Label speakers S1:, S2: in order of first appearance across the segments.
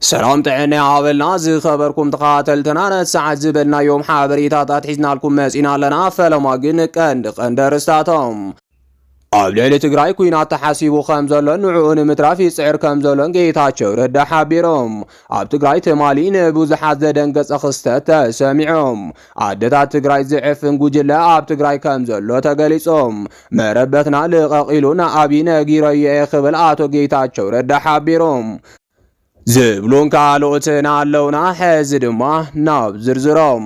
S1: ሰላም ጥዕና ይሃበልና ዝኸበርኩም ተኸታተልትና ነሰዓት ዝበልናዮም ሓበሬታታት ሒዝናልኩም መጺና ኣለና። ፈለማ ግን ቀንዲ ቀንዲ ኣርእስታቶም ኣብ ልዕሊ ትግራይ ኩናት ተሓሲቡ ከም ዘሎን ንዕኡ ንምትራፍ ይጽዕር ከም ዘሎን ጌታቸው ረዳ ሓቢሮም ኣብ ትግራይ ትማሊ ንብዙሓት ዘደንገጸ ክስተት ተሰሚዖም ኣደታት ትግራይ ዝዕፍን ጉጅለ ኣብ ትግራይ ከም ዘሎ ተገሊጾም መረበትና ልቐቕ ኢሉ ንኣብይ ነጊረዮ እየ ክብል ኣቶ ጌታቸው ረዳ ሓቢሮም ዝብሉን ካልኦትን ኣለውና። ሕዚ ድማ ናብ ዝርዝሮም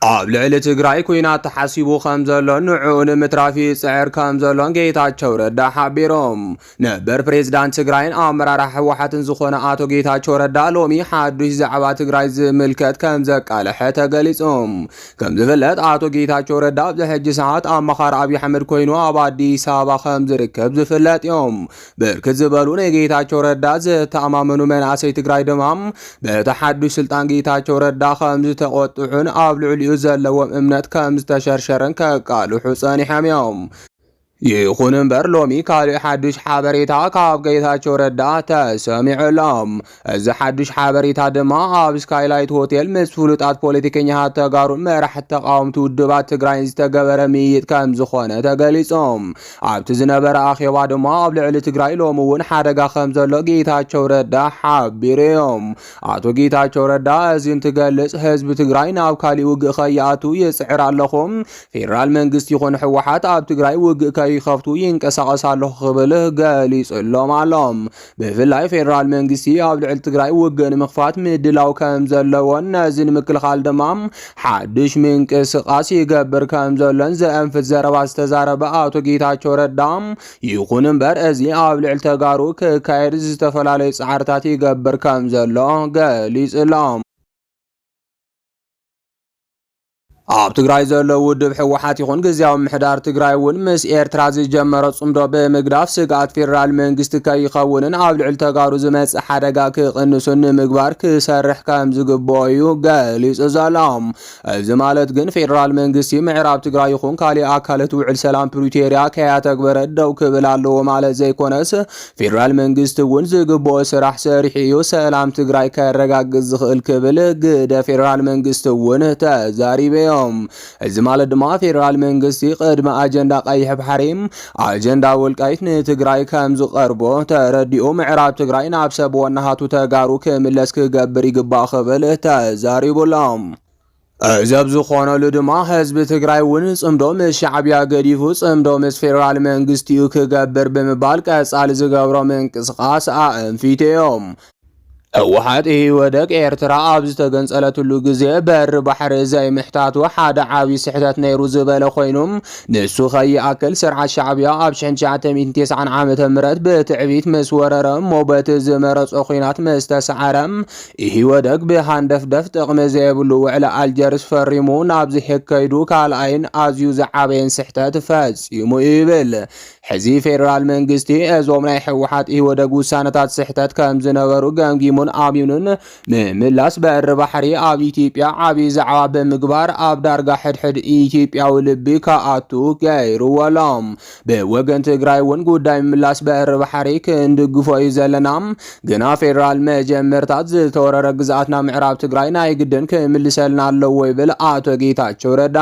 S1: ኣብ ልዕሊ ትግራይ ኩናት ተሓሲቡ ከም ዘሎን ንዕኡ ንምትራፍ ይጽዕር ከም ዘሎን ጌታቸው ረዳ ሓቢሮም። ነበር ፕሬዝዳንት ትግራይን ኣመራርሓ ህወሓትን ዝኾነ ኣቶ ጌታቸው ረዳ ሎሚ ሓዱሽ ዛዕባ ትግራይ ዝምልከት ከም ዘቃለሐ ተገሊጹ። ከምዝፍለጥ ኣቶ ጌታቸው ረዳ ኣብዚ ሕጂ ሰዓት ኣማኻሪ ኣብይ ኣሕመድ ኮይኑ ኣብ ኣዲስ ኣበባ ከም ዝርከብ ዝፍለጥ እዮም። ብርክት ዝበሉ ንጌታቸው ረዳ ዝተኣማመኑ መናእሰይ ትግራይ ድማ በቲ ሓዱሽ ስልጣን ጌታቸው ረዳ ከም ዝተቆጥዑን ኣብ ልዕሊኡ ዘለዎም እምነት ከም ዝተሸርሸረን ከቃልሑ ጸኒሖም እዮም። ይኹን እምበር ሎሚ ካልእ ሓዱሽ ሓበሬታ ካብ ጌታቸው ረዳ ተሰሚዑ ኣሎ። እዚ ሓዱሽ ሓበሬታ ድማ ኣብ ስካይላይት ሆቴል ምስ ፍሉጣት ፖለቲከኛታት ተጋሩን መራሕቲ ተቃወምቲ ውድባት ትግራይን ዝተገበረ ምይይጥ ከም ዝኾነ ተገሊጹ። ኣብቲ ዝነበረ ኣኼባ ድማ ኣብ ልዕሊ ትግራይ ሎሚ እውን ሓደጋ ከም ዘሎ ጌታቸው ረዳ ሓቢሩ እዩ። ኣቶ ጌታቸው ረዳ እዚ እንትገልጽ ህዝቢ ትግራይ ናብ ካሊእ ውግእ ከይኣቱ ይጽዕር ኣለኹ፣ ፌደራል መንግስቲ ይኹን ህወሓት ኣብ ትግራይ ውግእ ከይከፍቱ ይንቀሳቐስ ኣለኹ ክብል ገሊጹሎም ኣሎ። ብፍላይ ፌደራል መንግስቲ ኣብ ልዕሊ ትግራይ ውግእ ንምኽፋት ምድላው ከም ዘለዎን ነዚ ንምክልኻል ድማ ሓድሽ ምንቅስቓስ ይገብር ከም ዘሎን ዘእንፍት ዘረባ ዝተዛረበ ኣቶ ጌታቸው ረዳ ይኹን እምበር እዚ ኣብ ልዕሊ ተጋሩ ክካየድ ዝተፈላለዩ ጻዕርታት ይገብር ከም ዘሎ ገሊጹሎም። ኣብ ትግራይ ዘሎ ውድብ ህወሓት ይኹን ግዝያዊ ምሕዳር ትግራይ እውን ምስ ኤርትራ ዝጀመረ ጽምዶ ብምግዳፍ ስግኣት ፌዴራል መንግስቲ ከይኸውንን ኣብ ልዕሊ ተጋሩ ዝመጽእ ሓደጋ ክቕንሱን ንምግባር ክሰርሕ ከም ዝግብኦ እዩ ገሊጹ ዘሎ። እዚ ማለት ግን ፌዴራል መንግስቲ ምዕራብ ትግራይ ይኹን ካሊእ ኣካለት ውዕል ሰላም ፕሪቶሪያ ከያተግበረ ደው ክብል ኣለዎ ማለት ዘይኮነስ ፌዴራል መንግስቲ እውን ዝግብኦ ስራሕ ሰሪሑ እዩ ሰላም ትግራይ ከረጋግፅ ዝኽእል ክብል ግደ ፌዴራል መንግስቲ እውን ተዛሪበ እዮም። እዚ ማለት ድማ ፌዴራል መንግስቲ ቅድሚ ኣጀንዳ ቀይሕ ባሕሪ ኣጀንዳ ወልቃይት ንትግራይ ከም ዝቐርቦ ተረዲኡ ምዕራብ ትግራይ ናብ ሰብ ወናሃቱ ተጋሩ ክምለስ ክገብር ይግባእ ክብል ተዛሪቡ ኣሎ። እዚ ኣብ ዝኾነሉ ድማ ህዝቢ ትግራይ እውን ፅምዶ ምስ ሻዕቢያ ገዲፉ ፅምዶ ምስ ፌዴራል መንግስቲኡ ክገብር ብምባል ቀፃሊ ዝገብሮ ምንቅስቓስ ኣእንፊቱ እዮም። ህወሓት ኢህወደግ ኤርትራ ኣብ ዝተገንፀለትሉ ግዜ በሪ ባሕሪ ዘይምሕታቱ ሓደ ዓብዪ ስሕተት ነይሩ ዝበለ ኮይኑ ንሱ ከይኣክል ስርዓት ሻዕቢያ ኣብ ሽሕን ትሽዓተ ሚእትን ቴስዓን ዓመተ ምህረት ብትዕቢት ምስ ወረረ እሞ በቲ ዝመረፆ ኹናት ምስ ተሰዓረ ኢህወደግ ብሃንደፍደፍ ጥቕሚ ዘይብሉ ውዕሊ ኣልጀርስ ፈሪሙ ናብዚ ሕግ ከይዱ ካልኣይን ኣዝዩ ዝዓበየን ስሕተት ፈጺሙ እዩ ይብል። ሕዚ ፌደራል መንግስቲ እዞም ናይ ህወሓት ኢህወደግ ውሳነታት ስሕተት ከም ዝነበሩ ገምጊሙን ኣሚኑን ምምላስ በሪ ባሕሪ ኣብ ኢትዮጵያ ዓብዪ ዛዕባ ብምግባር ኣብ ዳርጋ ሕድሕድ ኢትዮጵያዊ ልቢ ከኣቱ ገይሩዎ ኣሎ። ብወገን ትግራይ እውን ጉዳይ ምምላስ በሪ ባሕሪ ክንድግፎ እዩ ዘለና። ግና ፌዴራል መጀመርታት ዝተወረረ ግዝኣትና ምዕራብ ትግራይ ናይ ግድን ክምልሰልና ኣለዎ ይብል ኣቶ ጌታቸው ረዳ።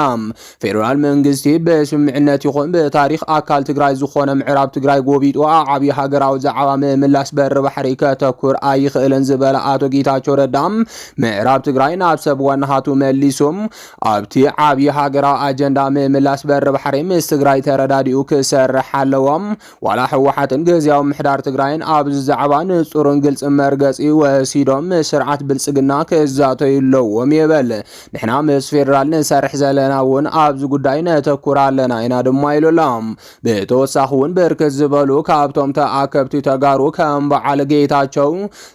S1: ፌዴራል መንግስቲ ብስምምዕነት ይኹን ብታሪኽ ኣካል ትግራይ ዝኾነ ምዕራብ ትግራይ ጎቢጡ ኣብ ዓብዪ ሃገራዊ ዛዕባ ምምላስ በሪ ባሕሪ ከተኩር ኣይኽእልን ዝበለ ኣቶ ጌታቸው ረዳ ምዕራብ ትግራይ ናብ ሰብ ዋናሃቱ መሊሱም ኣብቲ ዓብዪ ሃገራዊ ኣጀንዳ ምምላስ በሪ ባሕሪ ምስ ትግራይ ተረዳዲኡ ክሰርሕ ኣለዎ። ዋላ ህወሓትን ግዝያዊ ምሕዳር ትግራይን ኣብዚ ዛዕባ ንፁርን ግልፅን መርገፂ ወሲዶም ምስ ስርዓት ብልፅግና ክዛተዩ ኣለዎም ይብል። ንሕና ምስ ፌዴራል ንሰርሕ ዘለና እውን ኣብዚ ጉዳይ ነተኩር ኣለና ኢና ድማ ኢሉ ኣሎ። ብተወሳኺ እውን ብርክት ዝበሉ ካብቶም ተኣከብቲ ተጋሩ ከም በዓል ጌታቸው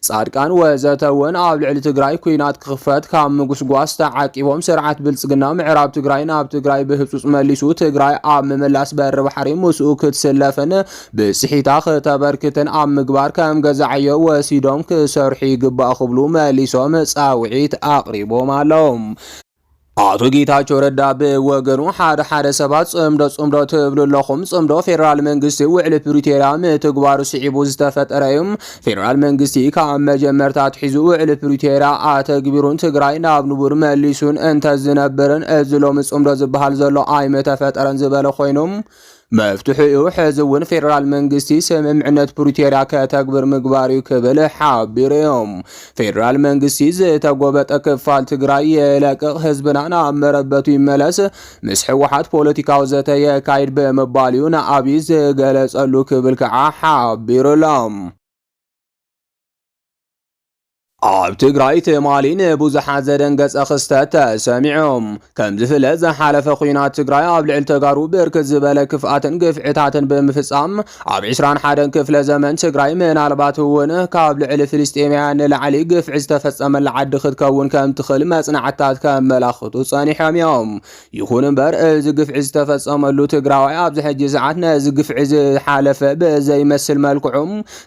S1: ጻድቃን ወዘተ እውን ኣብ ልዕሊ ትግራይ ኩናት ክኽፈት ካብ ምጉስጓስ ተዓቂቦም ስርዓት ብልጽግና ምዕራብ ትግራይ ናብ ትግራይ ብህጹጽ መሊሱ ትግራይ ኣብ ምምላስ በሪ ባሕሪ ምስኡ ክትስለፍን ብጽሒታ ክተበርክትን ኣብ ምግባር ከም ገዛዕዮ ወሲዶም ክሰርሑ ይግባእ ክብሉ መሊሶም ጻውዒት ኣቕሪቦም ኣለዉ። ኣቶ ጌታቸው ረዳ ብወገኑ ሓደ ሓደ ሰባት ጽምዶ ጽምዶ ትብሉ ኣለኹም፣ ጽምዶ ፌዴራል መንግስቲ ውዕሊ ፕሪቶርያ ምትግባሩ ስዒቡ ዝተፈጠረ እዩ። ፌዴራል መንግስቲ ካብ መጀመርታ ኣትሒዙ ውዕሊ ፕሪቶርያ ኣተግቢሩን ትግራይ ናብ ንቡር መሊሱን እንተዝነብርን እዚ ሎሚ ጽምዶ ዝበሃል ዘሎ ኣይምተፈጠረን ዝበለ ኮይኑ መፍትሒኡ ሕዚ እውን ፌዴራል መንግስቲ ስምምዕነት ፕሪቶርያ ከተግብር ምግባር እዩ ክብል ሓቢሩ እዩ። ፌዴራል መንግስቲ ዝተጎበጠ ክፋል ትግራይ የለቅቕ፣ ህዝብና ናብ መረበቱ ይመለስ፣ ምስ ህወሓት ፖለቲካዊ ዘተ የካይድ ብምባል እዩ ንኣብይ ዝገለጸሉ ክብል ከዓ ሓቢሩሎም። ኣብ ትግራይ ትማሊ ንብዙሓት ዘደንገጸ ክስተት ተሰሚዑ። ከም ዝፍለጥ ዝሓለፈ ኲናት ትግራይ ኣብ ልዕሊ ተጋሩ ብርክት ዝበለ ክፍኣትን ግፍዕታትን ብምፍጻም ኣብ 21 ክፍለ ዘመን ትግራይ ምናልባት እውን ካብ ልዕሊ ፍልስጤማውያን ንላዕሊ ግፍዒ ዝተፈጸመላ ዓዲ ክትከውን ከም ትኽእል መጽናዕትታት ከመላኽቱ ጸኒሖም እዮም። ይኹን እምበር እዚ ግፍዒ ዝተፈጸመሉ ትግራዋይ ኣብዚ ሕጂ ሰዓት ነዚ ግፍዒ ዝሓለፈ ብዘይመስል መልክዑ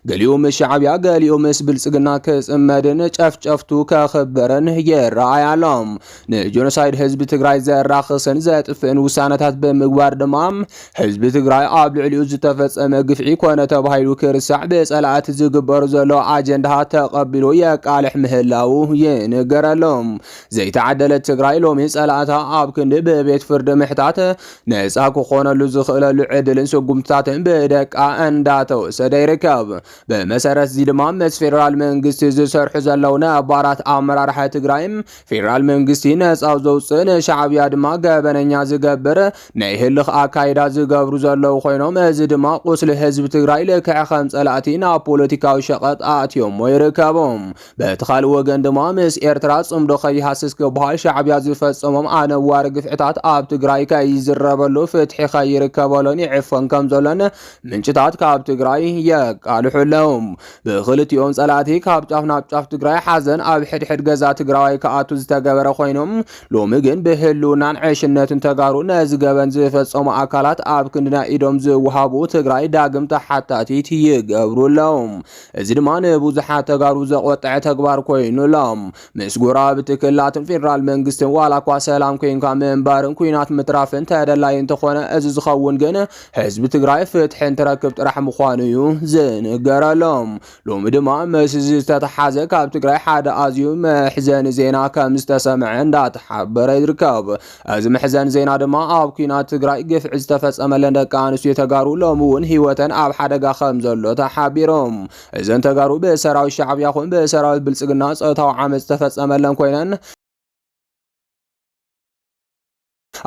S1: ገሊኡ ምስ ሻዕብያ ገሊኡ ምስ ብልጽግና ክጽመድን ጨፍጨፍቱ ከኽብርን ይረኣይ ኣሎ። ንጆኖሳይድ ህዝቢ ትግራይ ዘራኽስን ዘጥፍእን ውሳነታት ብምግባር ድማ ህዝቢ ትግራይ ኣብ ልዕሊኡ ዝተፈጸመ ግፍዒ ኮነ ተባሂሉ ክርሳዕ ብጸላእቲ ዝግበር ዘሎ ኣጀንዳታት ተቐቢሉ የቃልሕ ምህላው ይንገረሎም። ዘይተዓደለት ትግራይ ሎሚ ጸላእታ ኣብ ክንዲ ብቤት ፍርዲ ምሕታት ነጻ ክኾነሉ ዝኽእለሉ ዕድልን ስጉምትታትን ብደቃ እንዳተወሰደ ይርከብ። ብመሰረት እዚ ድማ ምስ ፌዴራል መንግስቲ ዝሰርሑ ዘለዉ ነባራት ኣመራርሓ ትግራይ ፌዴራል መንግስቲ ነጻ ዘውፅእ ንሻዕብያ ድማ ገበነኛ ዝገብር ናይ ህልኽ ኣካይዳ ዝገብሩ ዘለዉ ኮይኖም እዚ ድማ ቁስሊ ህዝቢ ትግራይ ልክዕ ከም ጸላእቲ ናብ ፖለቲካዊ ሸቐጥ ኣእትዮሞ ይርከቦም። በቲ ካልእ ወገን ድማ ምስ ኤርትራ ጽምዶ ከይሃስስ ክበሃል ሻዕብያ ዝፈጸሞም ኣነዋሪ ግፍዕታት ኣብ ትግራይ ከይዝረበሉ ፍትሒ ከይርከበሉን ይዕፈን ከም ዘሎን ምንጭታት ካብ ትግራይ የቃልሑ ኣለዉ። ብክልቲኦም ጸላእቲ ካብ ጫፍ ናብ ጫፍ ትግራይ ሓዘን ኣብ ሕድሕድ ገዛ ትግራዋይ ክኣቱ ዝተገበረ ኮይኖም ሎሚ ግን ብህልውናን ዕሽነትን ተጋሩ ነዚ ገበን ዝፈጸሙ ኣካላት ኣብ ክንድና ኢዶም ዝወሃቡ ትግራይ ዳግም ተሓታቲት ይገብሩ ኣለዉ። እዚ ድማ ንብዙሓት ተጋሩ ዘቖጠዐ ተግባር ኮይኑ ኣሎ። ምስ ጎረባብቲ ክልላትን ፌደራል መንግስትን ዋላኳ ሰላም ኮይንካ ምንባርን ኩናት ምትራፍን ተደላዪ እንተኾነ እዚ ዝኸውን ግን ህዝቢ ትግራይ ፍትሒ እንትረክብ ጥራሕ ምዃኑ እዩ ዝንገረሎም። ሎሚ ድማ ምስ እዚ ዝተተሓዘ ካብ ትግራይ ሓደ ኣዝዩ መሕዘኒ ዜና ከም ዝተሰምዐ እንዳተሓበረ ይርከብ። እዚ መሕዘን ዜና ድማ ኣብ ኩናት ትግራይ ግፍዒ ዝተፈጸመለን ደቂ ኣንስትዮ ተጋሩ ሎሚ እውን ህይወተን ኣብ ሓደጋ ከም ዘሎ ተሓቢሮም እዘን ተጋሩ ብሰራዊት ሻዕብያ ኹን ብሰራዊት ብልጽግና ጾታዊ ዓመፅ ዝተፈጸመለን ኮይነን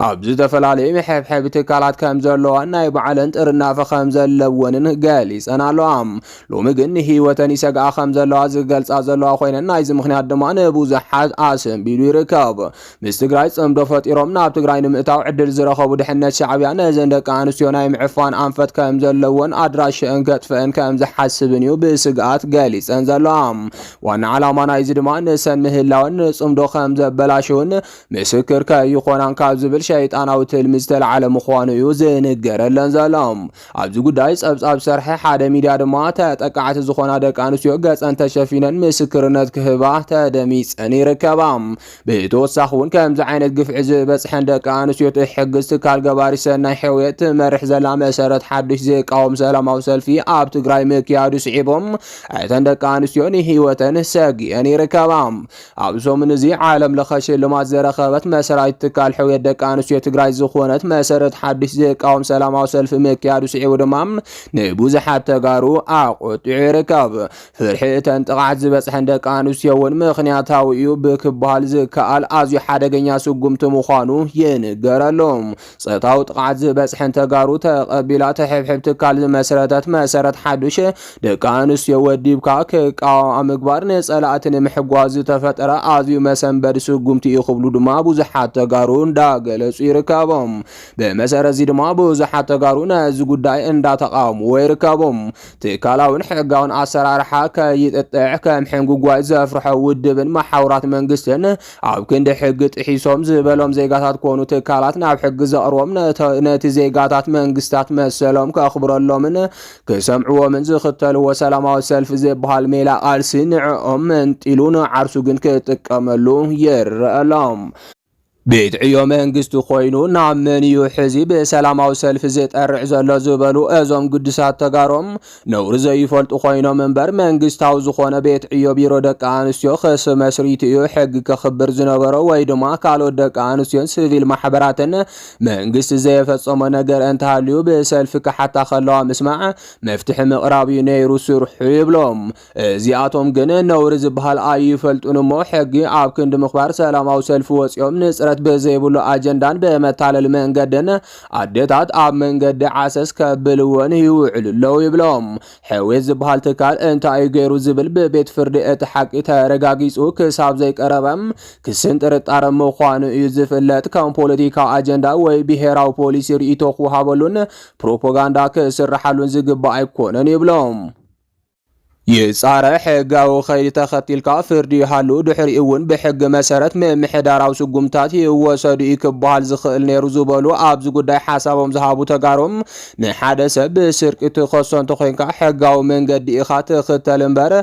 S1: ኣብ ዝተፈላለዩ መሐብሐቢ ትካላት ከም ዘለዋን ናይ ባዕለን ጥርናፈ ከም ዘለወንን ገሊፀን ኣለዋ ሎሚ ግን ንህይወተን ይሰግኣ ከም ዘለዋ ዝገልፃ ዘለዋ ኮይነን ናይዚ ምክንያት ድማ ንብዙሓት ኣሰንቢዱ ይርከብ ምስ ትግራይ ጽምዶ ፈጢሮም ናብ ትግራይ ንምእታው ዕድል ዝረኸቡ ድሕነት ሻዕብያ ነዘን ደቂ ኣንስትዮ ናይ ምዕፋን ኣንፈት ከም ዘለዎን ኣድራሽአን ከጥፍእን ከም ዝሓስብን እዩ ብስግኣት ገሊጸን ዘለዋ። ዋና ዓላማ ናይዚ ድማ ንሰን ምህላወን ንጽምዶ ከም ዘበላሽውን ምስክር ከይኾናን ካብ ዝብል ሸይጣናዊ ትልሚ ዝተላዕለ ምዃኑ እዩ ዝንገረለን ዘሎ። ኣብዚ ጉዳይ ጸብጻብ ዝሰርሐ ሓደ ሚድያ ድማ ተጠቃዕቲ ዝኾና ደቂ ኣንስትዮ ገጸን ተሸፊነን ምስክርነት ክህባ ተደሚጸን ይርከባ። ብተወሳኺ እውን ከምዚ ዓይነት ግፍዒ ዝበፅሐን ደቂ ኣንስትዮ ትሕግዝ ትካል ገባሪ ሰናይ ሕውየት ትመርሕ ዘላ መሰረት ሓዱሽ ዝቃወም ሰላማዊ ሰልፊ ኣብ ትግራይ ምክያዱ ስዒቡ እተን ደቂ ኣንስትዮ ንህይወተን ሰጊኤን ይርከባ። ኣብ ሰሙን እዚ ዓለም ለኸ ሽልማት ዘረከበት መስራቲት ትካል ሕውየት ደቂ ኣንስትዮ ትግራይ ዝኾነት መሰረት ሓዱሽ ዝቃወም ሰላማዊ ሰልፊ ምክያዱ ስዒቡ ድማ ንብዙሓት ተጋሩ ኣቆጢዑ ይርከብ። ፍርሒ እተን ጥቕዓት ዝበጽሐን ደቂ ኣንስትዮ እውን ምኽንያታዊ እዩ ብክበሃል ዝከኣል ኣዝዩ ሓደገኛ ስጉምቲ ምዃኑ ይንገረሉ። ጸታዊ ጥቕዓት ዝበጽሐን ተጋሩ ተቐቢላ ተሕብሕብ ትካል ዝመስረተት መሰረት ሓዱሽ ደቂ ኣንስትዮ ወዲብካ ክቃወማ ምግባር ንጸላእቲ ንምሕጓዝ ዝተፈጠረ ኣዝዩ መሰንበዲ ስጉምቲ እዩ ክብሉ ድማ ብዙሓት ተጋሩ እንዳገለጹ ይርከቦም። ብመሰረት እዚ ድማ ብዙሓት ተጋሩ ነዚ ጉዳይ እንዳተቃወምዎ ይርከቦም። ትካላውን ሕጋውን ኣሰራርሓ ከይጥጥዕ ከም ሕንጉጓይ ዘፍርሖ ውድብን መሓውራት መንግስትን ኣብ ክንዲ ሕጊ ጥሒሶም ዝበሎም ዜጋታት ኮኑ ትካላት ናብ ሕጊ ዘቕርቦም ነቲ ዜጋታት መንግስታት መሰሎም ከኽብረሎምን ክሰምዕዎምን ዝኽተልዎ ሰላማዊ ሰልፊ ዝበሃል ሜላ ቃልሲ ንዕኦም መንጢሉ ንዓርሱ ግን ክጥቀመሉ ይረኣሎም። ቤት ዕዮ መንግስቲ ኮይኑ ናብ መን እዩ ሕዚ ብሰላማዊ ሰልፊ ዝጠርዕ ዘሎ ዝበሉ እዞም ግዱሳት ተጋሮም ነውሪ ዘይፈልጡ ኮይኖም እምበር መንግስታዊ ዝኾነ ቤት ዕዮ ቢሮ ደቂ ኣንስትዮ ክስ መስሪቱ እዩ ሕጊ ከኽብር ዝነበሮ ወይ ድማ ካልኦት ደቂ ኣንስትዮን ስቪል ማሕበራትን መንግስቲ ዘየፈጸሞ ነገር እንተሃልዩ ብሰልፊ ክሓታ ከለዋ ምስማዕ መፍትሒ ምቕራብ እዩ ነይሩ ስርሑ ይብሎም። እዚኣቶም ግን ነውሪ ዝበሃል ኣይፈልጡን እሞ ሕጊ ኣብ ክንዲ ምኽባር ሰላማዊ ሰልፊ ወፂኦም ንፅረት ብዘይብሉ ኣጀንዳን ብመታለሊ መንገድን ኣዴታት ኣብ መንገዲ ዓሰስ ከብልወን ይውዕሉ ኣለዉ ይብሎም። ሕዌት ዝበሃል ትካል እንታይ እዩ ገይሩ ዝብል ብቤት ፍርዲ እቲ ሓቂ ተረጋጊፁ ክሳብ ዘይቀረበ ክስን ጥርጣረ ምዃኑ እዩ ዝፍለጥ። ከም ፖለቲካዊ ኣጀንዳ ወይ ብሄራዊ ፖሊሲ ርእይቶ ክወሃበሉን ፕሮፓጋንዳ ክስርሓሉን ዝግባእ ኣይኮነን ይብሎም። ይፃረ፣ ሕጋዊ ከይዲ ተኸቲልካ ፍርዲ ይሃሉ ድሕሪኡ እውን ብሕጊ መሰረት ምምሕዳራዊ ስጉምትታት ይወሰዱ እዩ ክበሃል ዝኽእል ነይሩ ዝበሉ ኣብዚ ጉዳይ ሓሳቦም ዝሃቡ ተጋሩ ንሓደ ሰብ ብስርቂ ትኸሶ እንተኾይንካ ሕጋዊ መንገዲ ኢኻ ትኽተል እምበር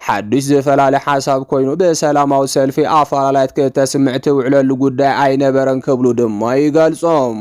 S1: ሓዱሽ ዝፈላለ ሓሳብ ኮይኑ ብሰላማዊ ሰልፊ ኣፈላላያት ክተስምዕ ትውዕለሉ ጉዳይ ኣይነበረን ክብሉ ድማ ይገልፆም።